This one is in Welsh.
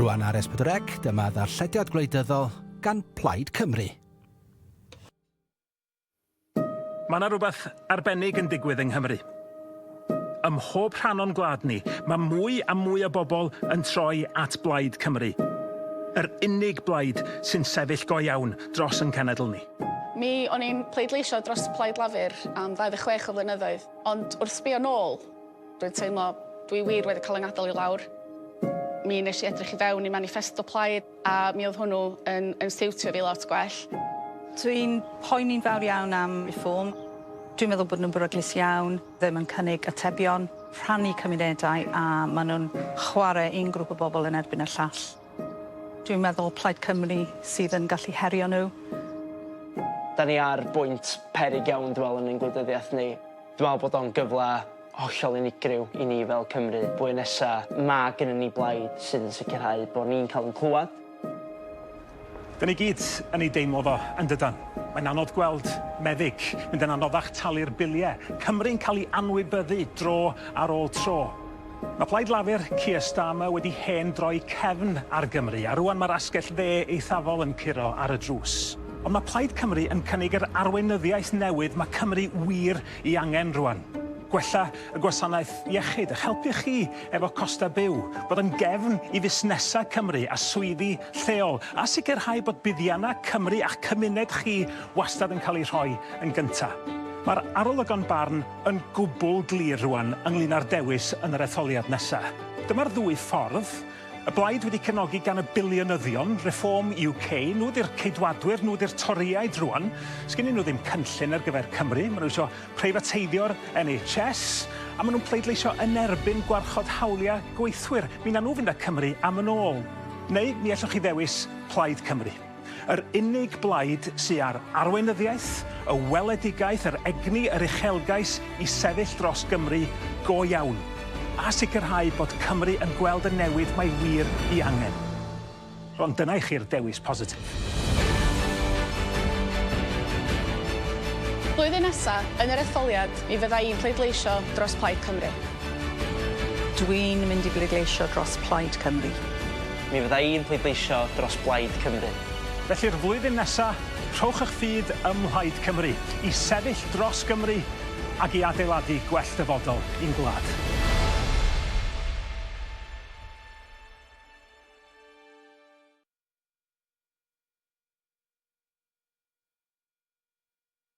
Rwan ar S4C, dyma ddarllediad gwleidyddol gan Plaid Cymru. Mae 'na rywbeth arbennig yn digwydd yng Nghymru. Ym mhob rhan o'n gwlad ni, mae mwy a mwy o bobl yn troi at Blaid Cymru. Yr unig blaid sy'n sefyll go iawn dros ein cenedl ni. Mi o'n i'n pleidleisio dros Plaid Lafur am 26 o flynyddoedd, ond wrth sbio nôl, dwi'n teimlo dwi wir wedi cael 'y ngadael i lawr. Mi wnes i edrych i fewn i maniffesto Plaid. A mi oedd hwnnw yn, yn siwtio fi lot gwell. Dwi'n poeni'n fawr iawn am Reform. Dwi'n meddwl bod nhw'n beryglus iawn, ddim yn cynnig atebion, rhannu cymunedau a maen nhw'n chwarae un grŵp o bobl yn erbyn y llall. Dwi'n meddwl Plaid Cymru sydd yn gallu herio nhw. Da ni ar bwynt peryg iawn dwi'n meddwl yn ein gwleidyddiaeth ni. Dwi'n meddwl bod o'n gyfle hollol unigryw i ni fel Cymru. Blwyddyn nesa, mae gennyn ni blaid sydd yn sicrhau bod ni'n cael ein clywed. Da ni gyd yn ei deimlo fo, yn dydan? Mae'n anodd gweld meddyg mynd yn anoddach, talu'r biliau, Cymru'n cael ei anwybyddu dro ar ôl tro. Mae Plaid Lafur, Keir Starmer, wedi hen droi cefn ar Gymru, a rŵan mae'r asgell dde eithafol yn curo ar y drws. Ond mae Plaid Cymru yn cynnig yr arweinyddiaeth newydd mae Cymru wir Ei angen rwan. Gwella y gwasanaeth iechyd, a'ch helpu chi efo costau byw, bod yn gefn i fusnesau Cymru a swyddi lleol, a sicrhau bod buddiannau Cymru a'ch cymuned chi wastad yn cael eu rhoi yn gyntaf. Mae'r arolygon barn yn gwbl glir rwan ynglŷn â'r dewis yn yr etholiad nesaf. Dyma'r ddwy ffordd. Y blaid wedi cefnogi gan y biliynyddion, Reform UK, nhw ydy'r Ceidwadwyr, nhw ydy'r Torïaid rwan. Sgennyn nhw ddim cynllun ar gyfer Cymru, maen nhw isio preifateiddio'r NHS, a maen nhw'n pleidleisio yn erbyn gwarchod hawliau gweithwyr. Mi wnawn nhw fynd â Cymru am yn ôl. Neu mi allwch chi ddewis Plaid Cymru. Yr unig blaid sy â'r arweinyddiaeth, y weledigaeth, yr egni, yr uchelgais i sefyll dros Gymru go iawn, a sicrhau bod Cymru yn gweld y newid mae wir i angen. Ond dyna i chi'r dewis positif. Blwyddyn nesa, yn yr etholiad, mi fydda i'n pleidleisio dros Plaid Cymru. Dwi'n mynd i bleidleisio dros Plaid Cymru. Mi fydda i'n pleidleisio dros Blaid Cymru. Felly'r flwyddyn nesa, rhowch y'ch ffydd ym Mhlaid Cymru i sefyll dros Gymru ac i adeiladu gwell dyfodol i'n gwlad.